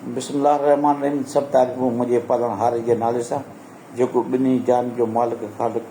بسم الله الرحمٰن الرحيم سڀ تعريفون منهنجي پالڻهاري جي نالي سان جيڪو ٻنهي جهان جو مالڪ خالق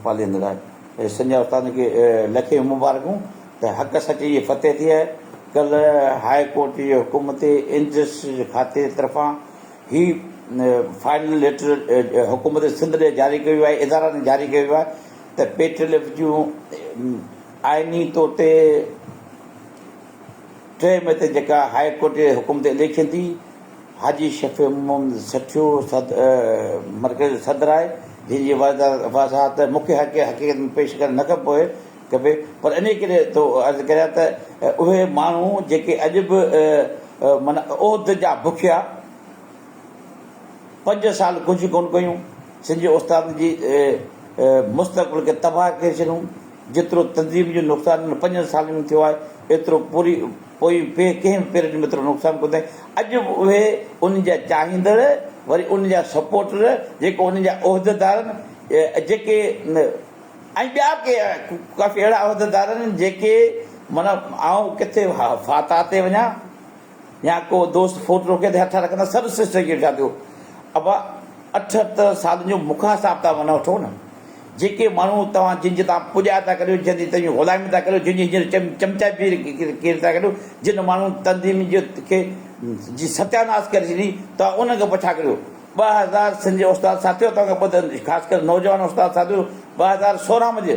پاليندڙ آهي اي سنجه استاد کي لکين مبارڪون ته حق سچ جي فتح ٿئي آهي ڪلهه هاء ڪورٽ جي حڪم تي انڊسٽريز کاتي طرفان هي فائنل ليٽر حڪومت سنڌ ڏي جاري ڪيو ويو آهي ادارا ڏي جاري ڪيو ويو آهي ته پي ٽي ايل ايف جون آئيني طور تي ٽئين مئي تي جيڪا هاء ڪورٽ جي حڪم تي اليڪشن ٿي، حاجي شفيع محمد سٺيو مرڪز جو صدر آهي، جنهن جي وضاحت مکيه حقيقت ۾ پيش ڪرڻ نه کپي ڪبي، پر انهيء ڪري ٿو عرض ڪريان ته اهي ماڻهو جيڪي اڄ به معنيٰ عهد جا بکيا پنج سال ڪجهه ڪونه ڪيون، سنڌ جي استادن جي مستقبل کي تباهه ڪري ڇڏيون، جيترو تنظيم جو نقصان انهن پنجن سالن ۾ ٿيو آهي، ايترو پوري پوئين ٻئي ڪنهن به پيرڊ ۾ ايترو نقصان ڪونه ٿيو آهي. اڄ به اهي انهن جا چاهيندڙ، وري انهن جا سپورٽر، جيڪي انهن جا عهديدار آهن، جيڪي ۽ ٻيا ڪي ڪافي اهڙا عهديدار آهن، جيڪي معنيٰ آئون ڪٿي فاتح تي وڃان، يا ڪو دوست فوٽ روڪي تي هٿ رکندڙ سڀ سسٽر کي ڏٺا ٿيو ابا اٺهتر سالن جو مونکان حساب ٿا ونه وٺو نه جيڪي ماڻهو توهان جن جي تان پڄاء ٿا ڪريو جن جي تنهنجي غلامي ٿا ڪريو جن جي هينئر چم چمچا جي ڪير ٿا ڪريو جن ماڻهن تنظيم جي کي جي ستياناس ڪري ڇڏي توهان انهن کي پڇا ڪريو ٻه هزار سنڌ جي استاد ساٿيو توهان کي ٻڌ خاص ڪري نوجوان استاد ساٿيو ٻه هزار سورهن مجي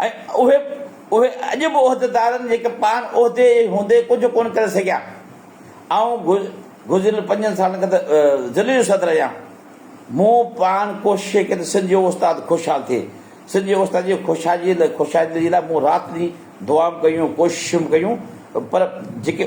۽ اهي اڄ به عهديدارن جيڪي پاڻ عهدي جي هوندي ڪجهه ڪونه ڪري سگهيا. آئون گذريل پنجن سالن کان ته ضلعي جو صدر آهيان، مون پاڻ ڪوشش ڪئي ته سنڌ جو استاد خوشحال ٿئي، سنڌ جي استاد جي خوشحالي جي لاء مون رات ڏينهن دعائون ڪيون، ڪوششون ڪيون پر جيڪي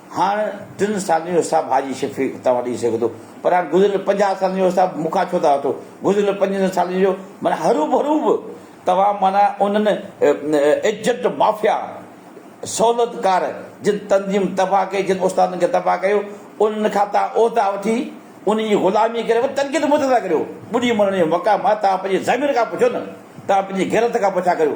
هاڻ ٽن سالن جو حساب حاجي شفيق اتان وٺي سگهي ٿو پر هاڻ گذريل پنجاهه سالن جو حساب مون کان ڇو ٿا وٺو؟ گذريل پنجن سالن جو معنيٰ هروڀرو به توهان معنيٰ انهن ايجنٽ مافيا سهولتڪار جن تنظيم تباهه ڪئي، جن استادن کي تباهه ڪيو، انهن کان توهان عهدا وٺي انهن جي غلامي ڪري وري تنقيد مون تي ٿا ڪريو؟ ٻڏي مرڻ جو مقام آهي توهان پنهنجي ضمير کان پڇو نه توهان پنهنجي غيرت کان پڇا ڪريو.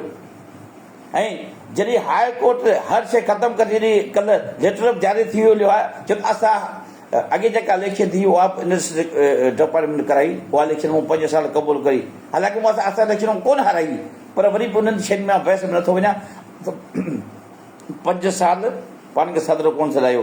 ۽ جڏهن هاء ڪورٽ هر شيء ختم ڪري ڇڏي ڪل ليٽر آف جاري ٿي ويو ليو آء چيو ته اسان اڳي جيڪا اليڪشن ٿي اها به انٽرسٽيٽ ڊپارٽمينٽ ڪرائي اها اليڪشن مون پنج سال قبول ڪئي حالانڪه مون اسان اليڪشن ڪونه هارائي پر وري به انهن شين مان بحث ۾ نٿو وڃان ته پنج سال پاڻ کي صدر ڪونه سڏايو.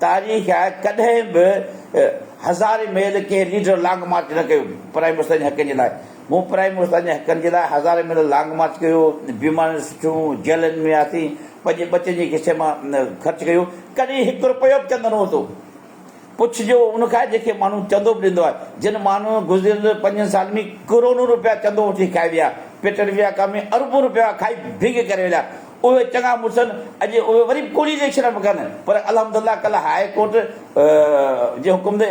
تاريخ آهي ڪڏهن به هزارين ميل ڪنهن ليڊر لانگ مارچ نه ڪيو پرائمي استاد جي حقن جي لاء مون پرائمي استاد جي حقن جي لاء هزارين ميل لانگ مارچ ڪيو بيماريون سٺيون جيلن ۾ هياسين پنهنجي ٻچن جي کسي مان خرچ ڪيو ڪڏهن هڪ رپيو به چندو نه وتو پڇ جو ان کان جنهن کي ماڻهو چندو به ڏيندو آهي جن ماڻهن گذريل پنجن سالن ۾ ڪروڙون رپيا چندو وٺي کائي ويا پيٽر ويا ڪا ۾ اربون رپيا کائي ڀينگ ڪري ويا اهي چڱا مڙسن اڄ اهي وري به ڪوڙي ريئڪشن پيا ڪن پر الحمد الله ڪلهه هاء ڪورٽ جي حڪم تي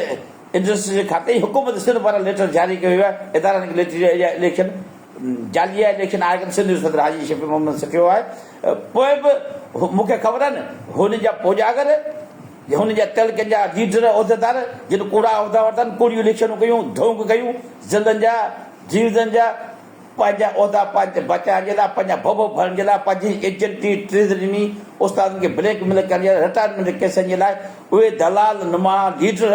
انڊسٽريز جي کاتي ۽ حڪومت سنڌ پاران ليٽر جاري ڪيو ويو آهي ادارن کي ليٽر ڏيو اهڙيا اليڪشن جعلي اليڪشن آهي ڪن سنڌ جو صدر حاجي شفيع محمد سکيو آهي پوء به مون کي خبر آهن هن جا پوڄاگر هن جا تعلقن جا ليڊر عهديدار جن ڪوڙا عهدا ورتا آهن ڪوڙيون اليڪشنون ڪيون ڌونڪ ڪيون ضلعن جا ڊويزن جا پنهنجا عهدا پنهنجي بچائڻ جي لاء، پنهنجا ڀڀ ڀرڻ جي لاء، پنهنجي ايجنٽي، ٽريزريني، استادن کي بليڪ ميل ڪرڻ جي لاء، رٽائرمينٽ ڪيسن جي لاء اهي دلال نما ليڊر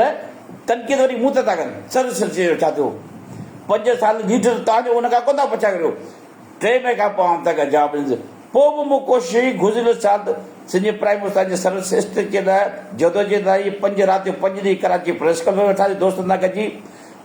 تنقيد وري مون تي ٿا ڪن. سر سر چيو ڇا ٿيو؟ پنج سال ليڊر توهان جو ان کان ڪو ٿا پڇا ڪريو؟ ٽي مئي کان پوء آئون توهان کي جواب ڏيندس. پوء به مون ڪوشش ڪئي گذريل سال سنڌ جي پرائم استاد جي سروس اسٽريڪ جي لاء جدوجهد لاء اهي پنج رات جو پنج ڏينهن ڪراچي پريس ڪلب ۾ ويٺاسين دوستن سان گڏجي.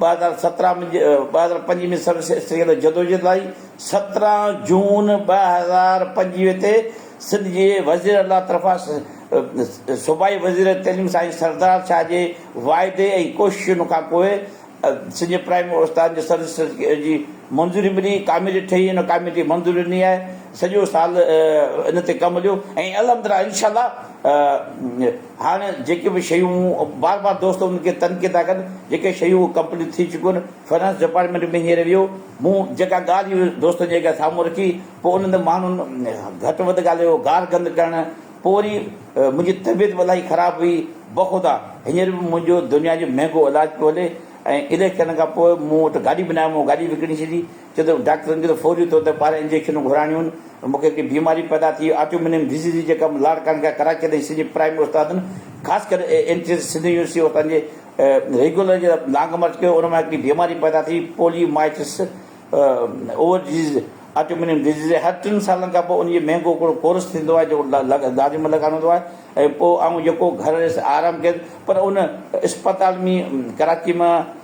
ٻه هزار سترهن ۾ ٻه هزار پنج ۾ سروس اسٽرينگ تي جدوجهد آئي، سترهن جون ٻه هزار پنجويهه تي سنڌ جي وزير اعليٰ طرفان صوبائي وزير تعليم سائين سردار شاهه جي واعدي ۽ ڪوششن کان پوء سنڌ جي پرائمري استادن جي سروس اسٽرينگ جي منظوري ملي، ڪاميٽي ٺهي ان ڪاميٽي منظوري ڏني آهي، سڄو سال ان تي ڪم هليو ۽ الحمدلله انشاء الله هاڻ جيڪي به شيون بار بار دوست ان کي تنقيد ٿا ڪن جيڪي شيون هو ڪمپليٽ ٿي چڪيون آهن فنانس ڊپارٽمينٽ ۾ هينئر ويو مون جيڪا ڳالهه هي دوستن جي اڳيان سامهون رکي پوء انهن تي ماڻهن گهٽ وڌ ڳالهيو گار گند ڪرڻ پوء وري منهنجي طبيعت به الاهي خراب هئي بخدا هينئر به منهنجو دنيا جو مهنگو علاج پيو هلي ۽ اليڪشن کان پوء مون وٽ گاڏي به ناهي مون گاڏي وڪڻي ڇڏي ڇو ته ڊاڪٽرن کي ته فوري طور تي ٻارهن انجيڪشنون گهرائڻيون هن، مون کي هڪڙي بيماري پيدا ٿي هئي آٽومينيم ڊزيز جي ڪم لاڙڪاڻي کان ڪراچي تائين سڄي پرائمري استادن خاص ڪري N C C Sindh university اتان جي ريگيولر جي لانگ مارچ ڪيو ان مان هڪڙي بيماري پيدا ٿي polymyositis over disease autoimmune disease هر ٽن سالن کان پوء ان جي مهنگو هڪڙو ڪورس ٿيندو آهي جيڪو گاڏي ۾ لڳائڻو هوندو آهي ۽ پوء آئون جيڪو گهر ويس آرام ڪيس پر ان اسپتال ۾ ڪراچي مان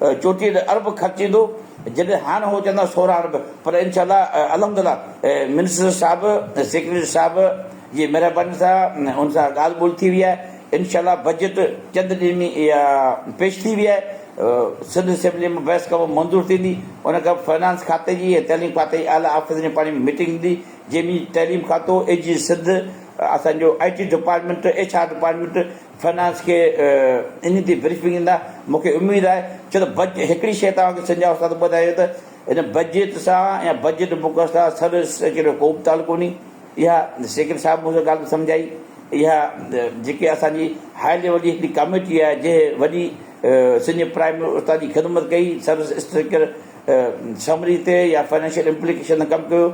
چوٽيهه ارب خرچ ايندو جڏهن هاڻ هو چوندا سورهن ارب پر انشاء الله الحمدلله منسٽر صاحب سيڪريٽري صاحب جي مهرباني سان ان سان ڳالهه ٻولهه ٿي وئي آهي انشاء الله بجيٽ چند ڏينهن ۾ پيش ٿي وئي آهي سنڌ اسيمبلي ۾ بحث کانپوء منظور ٿيندي ان کانپوء فنانس کاتي جي ۽ تعليم کاتي جي اعليٰ آفيسرن جي پاڻي ۾ ميٽنگ ٿيندي جنهن ۾ تعليم کاتو اي جي سنڌ اسان جو I T department H R department finance کي ان تي بريفنگ ڏيندا مون کي اميد آهي ڇو ته بج هڪڙي شيء توهان کي سنجاء استاد ٻڌايو ته ان بجيت سان يا بجيٽ مقرر سان سر سيڪريٽري جو ڪو به تعلق ڪونهي اها سيڪريٽري صاحب مون کي ڳالهه به سمجهائي اها جيڪي اسان جي هاء ليول جي هڪڙي ڪاميٽي آهي جنهن وڏي سنجهه پرائم استاد جي خدمت ڪئي سر سيڪريٽري سمري تي يا فنانشل امپليڪيشن تي ڪم ڪيو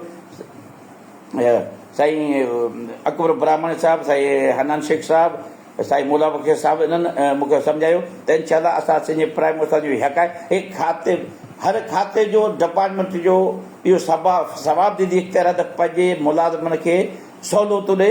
سائين اڪبر براهمڻي صاحب، سائين حنان شيخ صاحب، سائين مولا بخش صاحب انهن مون کي سمجهايو ته انشاء الله اسان سنڌ پرائم استاد جي حق آهي هي کاتي هر کاتي جو ڊپارٽمينٽ جو اهو ثواب ديدي اختيار آهي ته پنهنجي ملازمن کي سهولتون ڏي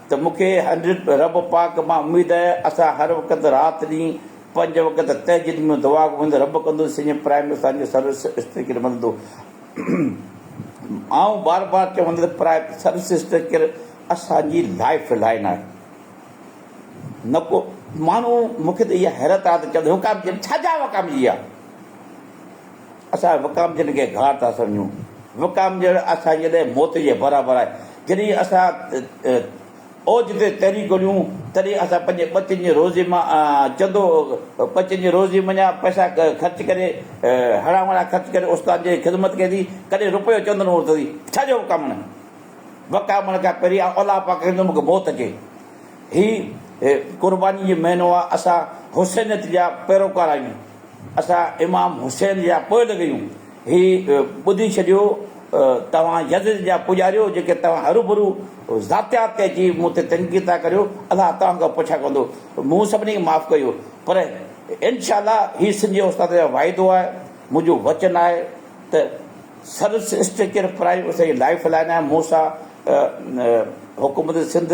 ته مون کي حضرت رب پاڪ مان اميد آهي اسان هر وقت رات ڏينهن پنج وقت تهجد ۾ دعا گهرندو رب ڪندو سڄي پرائم اسان جي سروس سسٽر کي مددو آئون بار بار چوندو ته پرائم سروس سسٽر ڪير اسان جي لائف لائن آهي نه ڪو ماڻهو مون کي ته اها حيرت آهي ته چوندو هو ڪام جي ڇا جا هوا ڪام جي آهي اسان وڪامجن کي گهار ٿا سمجهون. وڪامجڻ اسان جي لاء موت جي برابر آهي. جڏهن اسان اوج تي تري ڳوليون، تڏهن اسان پنهنجي ٻچن جي روزي مان چندو ٻچن جي روزي منجهان پئسا خرچ ڪري، هڙان وڙان خرچ ڪري استاد جي خدمت ڪئي ٿي، ڪڏهن رپيو چندن هور ٿي. ڇا جو وڪامڻ؟ وڪامڻ کان پهرين آء الله پاڪ کي چوندم مون کي موت اچي. هي قرباني جو مهينو آهي. اسان حسينيت جا پيروڪار آهيون. اسان امام حسين جا پوئل ڳيون، هي ٻڌي ڇڏيو توهان يزد جا پوڄاريو جيڪي توهان هروڀرو ذاتيات تي اچي مون تي تنقيد ٿا ڪريو، الله توهان کان پڇا ڪندو، مون سڀني کي معاف ڪيو پر انشاء الله هي سنڌ جي استاد جو واعدو آهي، منهنجو وچن آهي ته سروس اسٽرڪچر پرائيم اسان جي لائف لائن آهي، مون سان حڪومت سنڌ.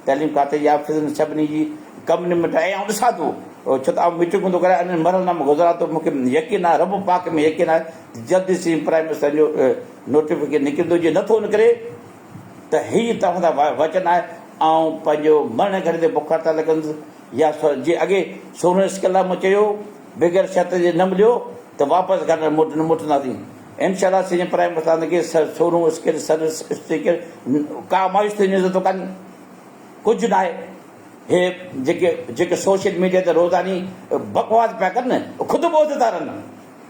تعليم کاتي جي آفيسرن سڀني جي ڪم نمٽائي ۽ آئون ڏسان ٿو ڇو ته آئون ميٽنگون ٿو ڪريان انهن مرحلن مان گذران ٿو مون کي يقين آهي رب پاڪ ۾ يقين آهي ته جلد ئي سين پرائيم منسٽر جو نوٽيفڪيشن نڪرندو جي نٿو نڪري ته هي توهان سان وچن آهي آئون پنهنجو مرڻي گهڙي تي بک هڙتال ڪندس يا جي اڳي سورهن سڪل لاء مون چيو بغير شرط جي نه مليو ته واپس گهر نه موٽنداسين انشاءالله سينئر پرائيم مستاند کي سر سورون اسڪير سر اسٽيڪر ڪا مايوس ٿيڻ جي ضرورت ڪانهي ڪجهه ناهي هي جيڪي جيڪي سوشل ميڊيا تي روزاني بڪواس پيا ڪن نه خود ٻوڌ ٿا رهن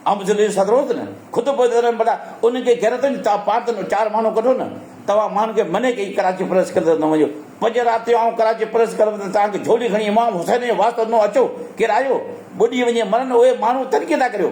عام زندگي سان روز نه خود ٻوڌ ٿا رهن بلا انهن کي غيرت هجي توهان پاڻ ته چار ماڻهو ڪڍو نه توهان ماڻهن کي مني ڪئي ڪراچي پريس ڪلب ته نه وڃو پنج رات جو آئون ڪراچي پريس ڪلب ته توهان کي جھولي کڻي امام حسين جي واسطو ڏنو اچو ڪير آيو ٻڏي وڃي مرن اهي ماڻهو تنقيد ٿا ڪريو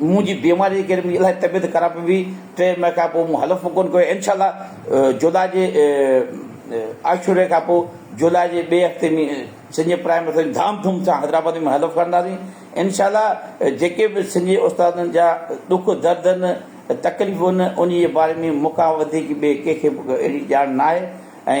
مون جي بيماريء جي ڪري منهنجي الاهي طبيعت خراب هئي. ٽي مئي کان پوء مون حلف به ڪونه ڪيو. انشاء الله جولاء جي عاشوري کان پوء جولاء جي ٻئي هفتي ۾ سنجي پرائمري اسڪول ۾ ڌام ڌوم سان حيدرآباد ۾ حلف کڻنداسين. انشاء الله جيڪي به سنجي استادن جا ڏک درد آهن، تڪليفون آهن، انهيء جي باري ۾ مون کان وڌيڪ ٻئي ڪنهن کي به اهڙي ڄاڻ ناهي ۽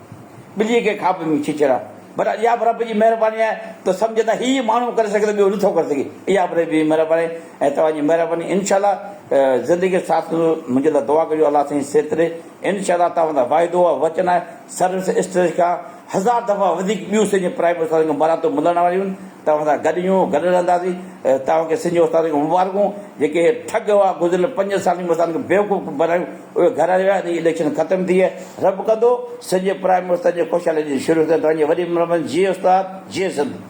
ٻليء کي کاٻ ۾ اڇي چڙهيا. پر اها به رب جي مهرباني آهي ته سمجهه ته هيء ماڻهو ڪري سگهي ٿو ٻيو نٿو ڪري سگهي. اها به رب جي مهرباني آهي ۽ توهان جي مهرباني انشاء الله زندگي جو ساٿ هوندو. منهنجي لاء دعا ڪجو الله سائين صحت ڏي. انشاء الله توهان لاء واعدو آهي وچن آهي سروس اسٽيج کان هزار دفعا وڌيڪ ٻيون سنڌ جي پرائيويٽ استادن کان مراتبون ملڻ واريون آهن. توهان سان گڏ هيون گڏ رهنداسين. توهان کي سنڌ جي استادن کي مبارڪون جيڪي ٺڳ هئا گذريل پنجن سالن ۾ اسان کي بيوقوف بڻايو. اهي گهر هليا ويا ۽ اليڪشن ختم ٿي ويا. رب ڪندو سنڌ جي پرائيم منسٽر جي خوشحالي جي شروع ٿيندو. توهان جي وڏي مھرباني جي استاد جي سنڌ.